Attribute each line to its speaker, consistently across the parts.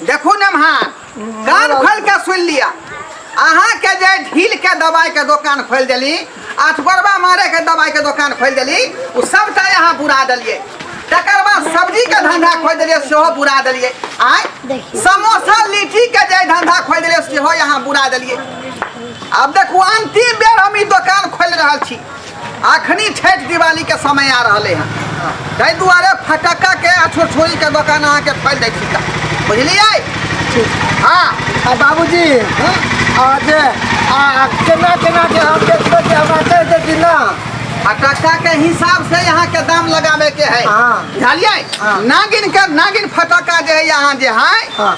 Speaker 1: देखू ने महान कान खोल के सुन लिया अहाँ के जे ढील के दवाई के दुकान खोल देली अठगोरबा मारे के दवाई के दुकान खोल देली उ सबटा अहाँ बुरा देलिए तकर बाद सब्जी के धंधा खोल देलिए सेहो बुरा देलिए आय समोसा लीची के जे धंधा खोल देलिए सेहो अहाँ बुरा देलिए अब देखू अंतिम बेर हम ई दुकान खोल रहल छी अखनी छठि दिवाली के समय आ रहले हैं ताहि दुआरे फटक्का के आ छोरछोरी के दोकान अहाँ के खोल दै छी बुझलियै हाँ आ बाबूजी
Speaker 2: आ जे आ केना केना के हम देखबै जे हमरा कहि दे कि ना फटक्का के
Speaker 1: हिसाब से यहाँ के दाम लगावे के है हाँ। बुझलियै हाँ। नागिन के नागिन फटक्का जे है यहाँ जे है हाँ।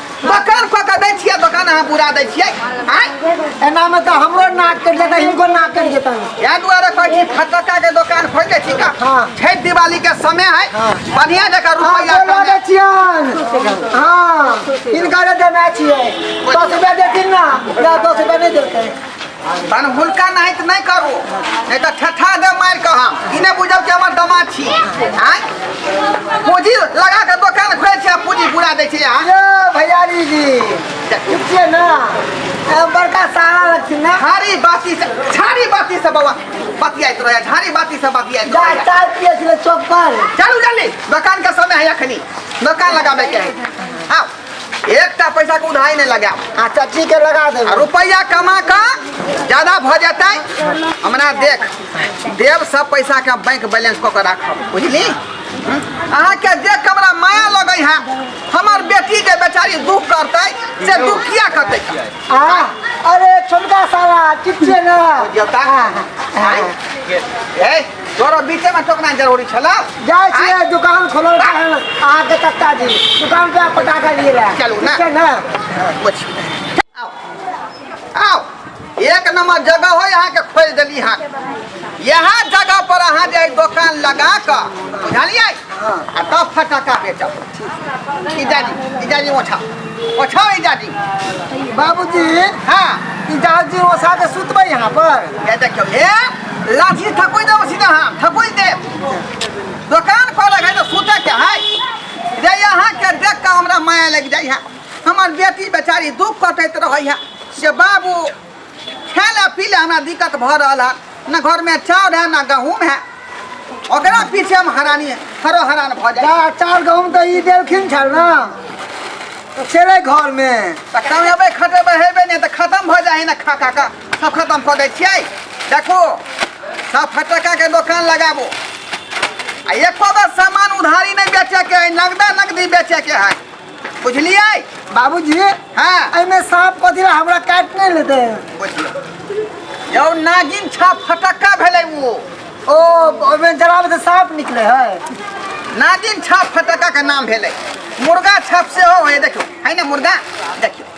Speaker 1: दोकान कऽ के दै छियै दोकान अहाँ पूरा दै छियै आँय एना
Speaker 2: में तो हमरो नाक कट जाता इनको नाक कट जाता इएह दुआरे कहै छी
Speaker 1: फटक्का के दोकान खोलि दै छी का हाँ। छठि दिवाली के समय है बढ़िया जकाँ हाँ रुपैआ बोलो कमाए। बेचियन
Speaker 2: हाँ इनका रे देना चाहिए दस रुपया देती ना या दस रुपया नहीं देते तहन
Speaker 1: हुनका नाहित नहि करू नहि तऽ ठठा दे मारि कऽ हम ई नहि बुझब कि हमर दमा छी आँय पूँजी लगा कऽ दोकान खोलै छी आ पूँजी बुरा दै छी अहाँ यो भैयारी जी
Speaker 2: ठीक छियै ने ए, बड़का सारा लगथिन ने झाड़ी बाती से झाड़ी
Speaker 1: बाती से बाबा बतियाइत रहै झाड़ी बाती से बतियाइत जा रहै चाय पिए छलै चौक
Speaker 2: पर चलू जल्दी
Speaker 1: दोकान के समय है अखनी दोकान लगाबे के है आउ एकटा पैसा के उधाई नहीं लगा आ चाची के लगा दे
Speaker 2: आ रुपया कमा का
Speaker 1: ज्यादा भ जाता हमरा देख देव सब पैसा के बैंक बैलेंस क के राखब बुझली अहाँ के जे कमरा माया लगे है हमर बेटी के बेचारी दुख करते से दुख किया करते आ
Speaker 2: अरे छोटका साला चिपचे ना देवता ए
Speaker 1: तोरा बीचे में टोकना जरूरी छला जाए छिए
Speaker 2: दुकान खोलो अहाँ के कक्का जी दुकान पे पटाखा लिए रहा चलू ना ठीक ना
Speaker 1: कुछ आओ आओ एक नंबर जगह हो यहाँ के खोज दिली हाँ यहाँ जगह पर अहाँ जे दुकान लगा कर बुझलिए आ तब फटाका बेचब इजाजी इजाजी ओछा ओछा इजाजी बाबूजी
Speaker 2: हाँ
Speaker 1: इजाजी
Speaker 2: ओछा के सुतबै यहाँ पर ये देखियो ये
Speaker 1: लाठी ठकुई देबो सीधा हम ठकुई दे दुकान खोले है तो सूते के है रे यहाँ के देख के हमरा माया लग जाई है हमर बेटी बेचारी दुख कटैत रहै है से बाबू खेले पीले हमरा दिक्कत भऽ रहल है न घर में चाउर है न गहूम है ओकरा पीछे हम हरानी हरो हरान भऽ जाए जा चाउर गहूँम तऽ ई
Speaker 2: देलखिन छल ने तऽ छलै घरमे तऽ कमेबै
Speaker 1: खटेबै हेबै नहि तऽ खतम भऽ जाइ है ने खा खा कऽ सब खत्म कऽ दै छियै देखो सब फटक्का के दोकान लगाबो आ एको बेर सामान उधारी नहीं बेचे के है नगदा नगदी बेचे के है बुझलिए बाबूजी
Speaker 2: हाँ एहिमे
Speaker 1: साँप कथी
Speaker 2: ला हमरा काट नहीं लेते बुझियो
Speaker 1: यौ नागिन छा फटक्का भेलै वो ओ ओहिमे
Speaker 2: जराबे से साँप निकले है नागिन
Speaker 1: छाप फटक्का के नाम भेलै मुर्गा छाप सेहो है देखियो है ना मुर्गा देखियो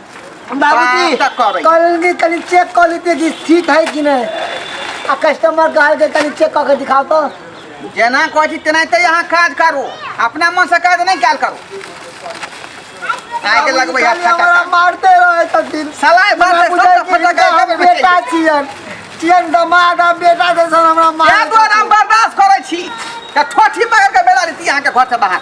Speaker 1: बाबूजी बात
Speaker 2: करै। कल के तनी चेक कर लेते कि सीट है कि नहीं आ कस्टमर कहल के तनी चेक करके दिखाओ तो जेना कहै
Speaker 1: छी तेना ते अहाँ काज करू अपना मन से काज नहि कयल करू आइ के लगबै बाबूजी हाथ खाली हमरा मारते
Speaker 2: रहे छथिन सलाह भर हमरा दे, बुझाइ
Speaker 1: सब कि फटक हिनका हम एकदम बेटा छियन
Speaker 2: छियन दमाद आ बेटा जैसन हमरा मारै दुआरे हम छथिन। बर्दाश्त
Speaker 1: करै छी तऽ ठोठी पकड़ के बेला रीति अहाँके घर से बाहर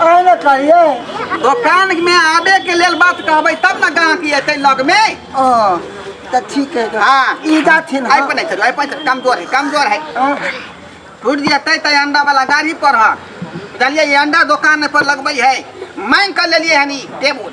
Speaker 1: अहाँ ने कहिए
Speaker 2: दोकान
Speaker 1: में आबे के लेल बात कहबै तब ने गाहकी एतै लग में ओ तऽ
Speaker 2: ठीक है हाँ। ई जाथिन आइ पर नहीं
Speaker 1: चलो आइ पर
Speaker 2: नहीं
Speaker 1: चलो, कमजोर है कमजोर है हाँ। टूट जेतै तऽ अंडा वाला गाड़ी पर हँ बुझलियै ई अंडा दोकान पर लगबै है मांग कर लेलियै हनी टेबुल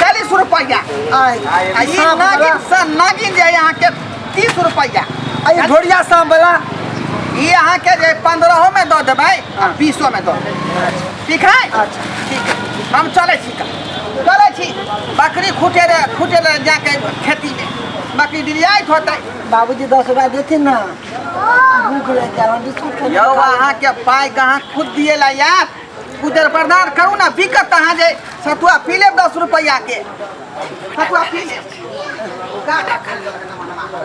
Speaker 1: चालीस रुपया आ ई नागिन से नागिन जे यहाँ के तीस रुपया अरे ढोड़िया शाम
Speaker 2: वाला ई यहाँ
Speaker 1: के जे पंद्रहो में दो देबै आ बीसो में दो देबै। ठीक है अच्छा। ठीक है
Speaker 2: हम
Speaker 1: चले छी का चले छी बकरी खूटे रे खूटे रे जाके खेती में बकरी डिरियाइत होतै बाबूजी दस रुपया
Speaker 2: देथिन ना भूख लग जाए बिस्कुट यौ अहाँ के
Speaker 1: पाइ कहाँ खुद दिए ला यार उधर बर्दाश्त करू ना बिकत अहाँ जे सतुआ पी लेब दस रुपैया के सतुआ पी लेब गागा
Speaker 2: खा लेब मनवा।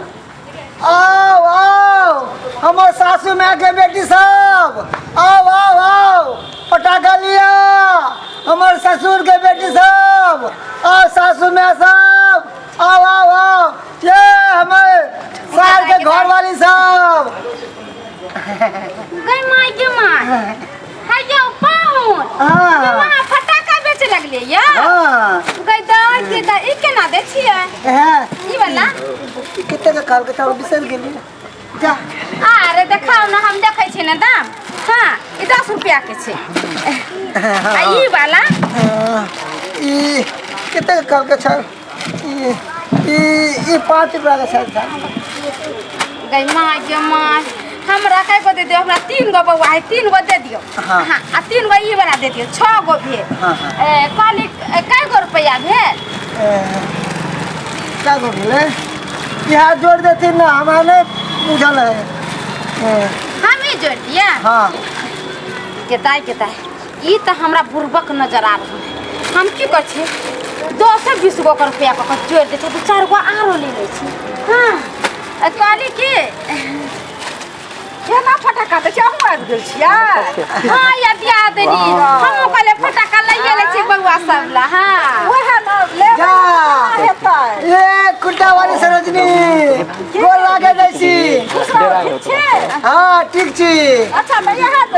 Speaker 2: आओ आओ हमर सासू माय के बेटी सब आओ आओ आओ पटाखा लिया हमर ससुर के बेटी सब आओ सासू माय सब आओ आओ आओ ये हमर सार के घर वाली सब
Speaker 3: गई माई के माई है यौ पाहुन हाँ। वहाँ
Speaker 2: फटाका
Speaker 3: बेचे लगले या हाँ गई
Speaker 2: दस
Speaker 3: के दस ई केना दै छियै हाँ ई
Speaker 2: वाला
Speaker 3: कितने का
Speaker 2: काल के था बिसर गेली जा अरे
Speaker 3: देखाओ ना हम देखै छी ना दाम हाँ ई दस रुपया के छै आ ई वाला हाँ,
Speaker 2: ई कितने का काल के था ई पाँच रुपया का शायद था
Speaker 3: गई माँ ये माँ हमरा कई गो दे दियो हमरा तीन गो बउआ है तीन गो दे दियो हाँ। हाँ, आ तीन गो
Speaker 2: ई
Speaker 3: वाला दे दियो छह गो भेल हाँ, हाँ। ए,
Speaker 2: कहली
Speaker 3: ए, कई गो रुपया भेल
Speaker 2: क्या को भेले यहाँ जोड़ देती ना हमारे नहीं बुझल है ए, हम ही
Speaker 3: जोड़ दिया हाँ
Speaker 2: केताई
Speaker 3: केताई ई तऽ हमरा बुर्बक नजर आ रहल है हम की कर छी दस बीस गो कर रुपया कऽ जोड़ दे छी दू चार गो आरो ले ले छी हाँ कहली की केना फटाका तऽ चाहू आबि गेल छियै हाँ या दिया देनी हम कहले फटाका लइए ले छी बउआ सब ला हाँ ओहे न ले जा।
Speaker 2: हेतै
Speaker 3: ए
Speaker 2: कुर्ता वाली सरोजनी गोर लागे जाइ छी हाँ ठीक छी अच्छा भैया हाथ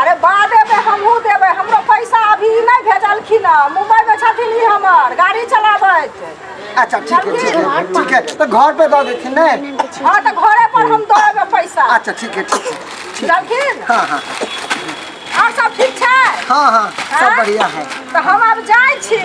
Speaker 4: अरे बादेमे हमहूँ देबै हमरो पैसा अभी नहि भेजलखिन हँ मुम्बइमे छथिन ई हमर गाड़ी चलाबैत अच्छा ठीक
Speaker 2: है ठीक है ठीक है तो घर पे दऽ देथिन ने हँ तऽ घरे पर
Speaker 4: हम दऽ देबै पैसा अच्छा ठीक है ठीक
Speaker 2: है जानखिन हाँ हाँ
Speaker 4: आओर सब ठीक छै हाँ हाँ
Speaker 2: सब बढ़िया है तऽ हम आब जाइ
Speaker 4: छी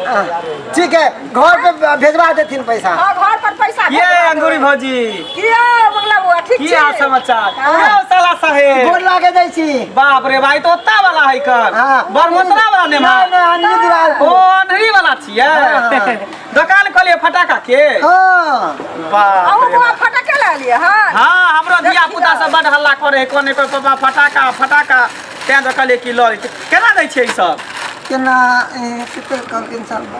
Speaker 4: हाँ,
Speaker 2: ठीक है घर पे भेजवा देथिन पैसा हाँ, घर पर पैसा
Speaker 4: ये भेजवा अंगूरी देबै। भौजी
Speaker 5: की यौ मंगला
Speaker 4: बौआ ठीक की छी हाल समाचार हाँ।
Speaker 5: यौ साला गोर
Speaker 4: साहेब
Speaker 5: लागे दै छी
Speaker 2: बाप रे भाई तो ओत्ता
Speaker 5: वाला है कर हाँ। बरमोतरा
Speaker 2: वाला ने
Speaker 5: नहीं, नहीं, अन्नी दीवार ओ
Speaker 2: को। अनहरी वाला
Speaker 5: छियै हाँ।
Speaker 2: दोकान खोलिए
Speaker 5: फटाका के हाँ
Speaker 2: बाप अहूँ रे
Speaker 5: बौआ बाप। फटके
Speaker 4: लए लिअ हाँ हाँ हमरो देखी धिया
Speaker 5: पुता ने। सब बड हल्ला करे है कोने पर पापा फटाका फटाका तें देखलिए की लड़ी केना दै छियै ई सब केना
Speaker 2: ए, कते कम इंसान बा।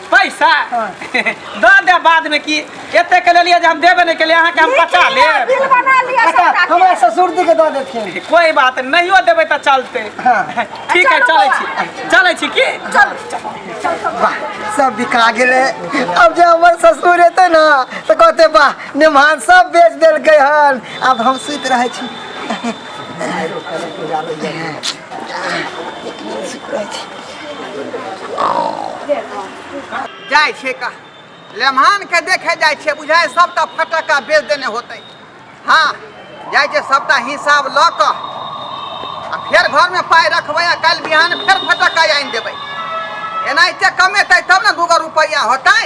Speaker 5: पैसा हाँ। द दे बाद में की एते के लेलिए जे हम देबे नहीं केलिए अहाँ के हम पचा लेब बिल बना लिया अच्छा
Speaker 4: सबटा के। हमरा ससुर
Speaker 2: जी के
Speaker 4: दऽ देथिन
Speaker 2: कोई बात नहीं नहियो
Speaker 5: देबै तऽ चलते हाँ। ठीक
Speaker 2: है चलै छी
Speaker 5: चलै छी की चल चल चल
Speaker 2: वाह सब बिका गेलै अब जे हमर ससुर एतै ने तऽ कहतै वाह नेमान सब बेच देलकै हन आब हम सुति रहै छी सुति रहै छी
Speaker 1: जाइ छै का लेमहान के देखे जाइ छै बुझाय सबटा फटक्का बेच देने होतै हाँ जाइ छै सबटा हिसाब लऽ कऽ आ फेर घरमे पाइ रखबै आ काल्हि बिहान फेर फटक्का आनि देबै एनाहिते कमेतै तब ने दूगो रुपैआ होतै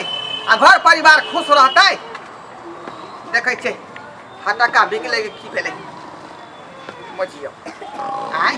Speaker 1: आ घर परिवार खुश रहतै देखै छै फटक्का बिकलै कि की भेलै मजियौ आँय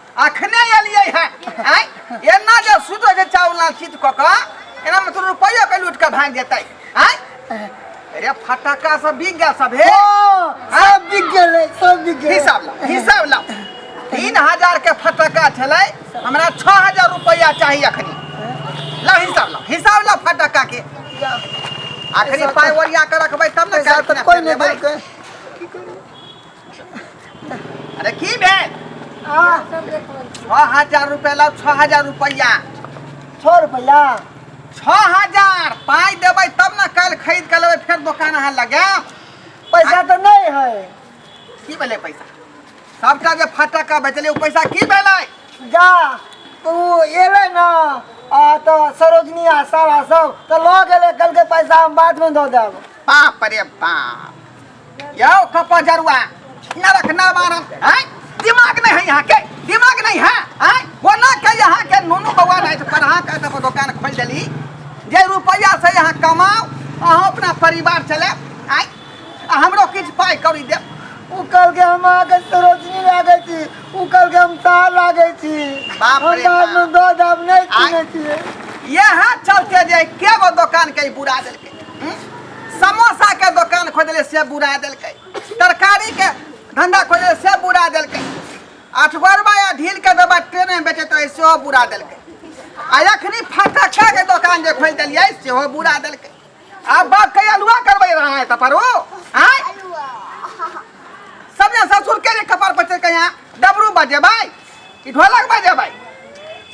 Speaker 2: अखने
Speaker 1: एलियै है आय एना जे सुतो जे चावला चित क क एना में तो रुपया के लूट के भाग जेतै आय अरे फटाका सब बिक गया सब हे सब बिक
Speaker 2: गेलै सब बिक गेलै हिसाब ला हिसाब ला
Speaker 1: तीन हजार के फटाका छलै हमरा छः हजार रुपया चाही अखनी ला हिसाब ला हिसाब ला फटाका के अखनी पाय ओरिया के रखबै तब ने पैसा काज तऽ कोइ नहि देलकै अरे की भेल छः हजार रुपया लाओ छः हजार रुपया छः
Speaker 2: रुपया छः
Speaker 1: हजार पाई देबै तब ना कल खरीद के लेबै फिर दुकान अहाँ लगे पैसा तो
Speaker 2: नहीं है की भेलै
Speaker 1: पैसा सबटा जे फटक्का बेचलियै ओ पैसा की भेलै जा
Speaker 2: तो वो एले ना आ तो सरोजनी आ सारा सब तो लो गेले कल के पैसा हम बाद में दो देब बाप रे
Speaker 1: बाप यौ कपा जरुआ नरक ना मारन हैं दिमाग नहीं है यहाँ के दिमाग नहीं है हैं बोला के यहाँ के नोनू बउआ नहीं तो पढ़ा के तब दुकान खोल देली जे रुपया से यहाँ कमाओ अहाँ अपना परिवार चले आय आ हमरो किछु पाइ कौड़ी देब उ कल के हम
Speaker 2: आगे सरोजनी लागे छी उ कल के हम तार लागे छी बाप हम रे बाद बाप।
Speaker 1: में दो दाम
Speaker 2: नहीं आय। सुने छियै इएह
Speaker 1: चलते जे के गो दोकान के ई बुरा देलकै समोसा के दुकान खोजले से बुरा देलकै तरकारी के धंधा खोजले से बुरा देलकै अठगोरबा या ढील के दबा ट्रेन में बेचैत रहे सेहो बुरा देलकै आ एखनी फटक्का के दुकान जे खोलि देलियै सेहो बुरा देलकै आब बाप के अलुआ करबै रहा है तपरो आय सबने ससुर के लिए कपार पर चढ़ यहाँ डबरू बजे भाई कि ढोलक बजे भाई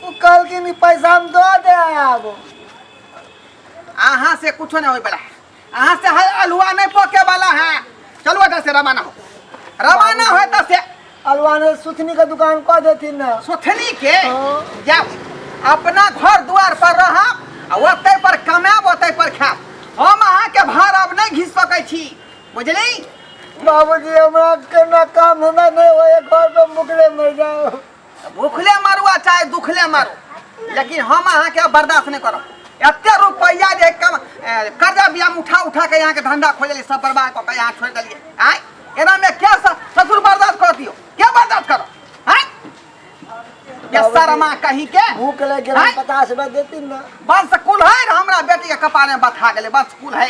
Speaker 1: ओ
Speaker 2: कहलखिन ई पैसा हम दऽ देब अहाँ
Speaker 1: से कुछो ना होई बला अहाँ से हल अलुआ नहीं पके वाला है चलो एटा से रवाना हो रवाना हो एटा से अलवान सुथनी
Speaker 2: के दुकान कह देती ना सुथनी के
Speaker 1: हाँ। जाओ अपना घर द्वार पर रह ओते पर कमाब ओते पर खाब हम अहाँ के भार अब नहीं घिस सकै छी बुझली बाबूजी
Speaker 2: हमरा के ना काम हमरा नहीं होए घर पे मुकले मर जाओ भूखले
Speaker 1: मारू आ चाहे दुखले मारू लेकिन हम अहाँ के बर्दाश्त नहीं करब एते रुपया जे कम ए, कर्जा बियाम उठा उठा के यहाँ के धंधा खोजली सब बर्बाद कऽ के यहाँ छोड़ देलिए आय एना में क्या स- ससुर बर्दाश्त कर दियो क्या बर्दाश्त करो आय ये शर्मा कहीं के भूख लग गेल आँय? पचास
Speaker 2: रुपया देती ना बस कुल है
Speaker 1: हमरा बेटी के कपार में बथा गेले बस कुल है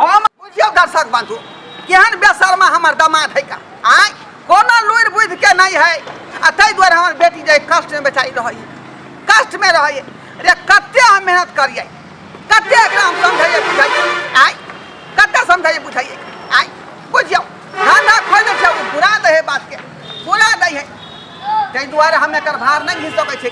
Speaker 1: हम बुझियौ दर्शक बंधु केहन बेसरमा हमर दमाद है का आय कोनो लुरि बुद्धि के नहीं है आ ताहि दुआरे हमर बेटी जे कष्ट में बेचारी रहै कष्ट में रहै रे कते हम मेहनत करियै कते एकरा हम समझाइए बुझाइए आय कते समझाइए बुझाइए आय बुझियौ धंधा खोल दे छै बुरा दे है बात के बुरा दे है ताहि दुआरे हम एकर भार नहीं घिस सकै छै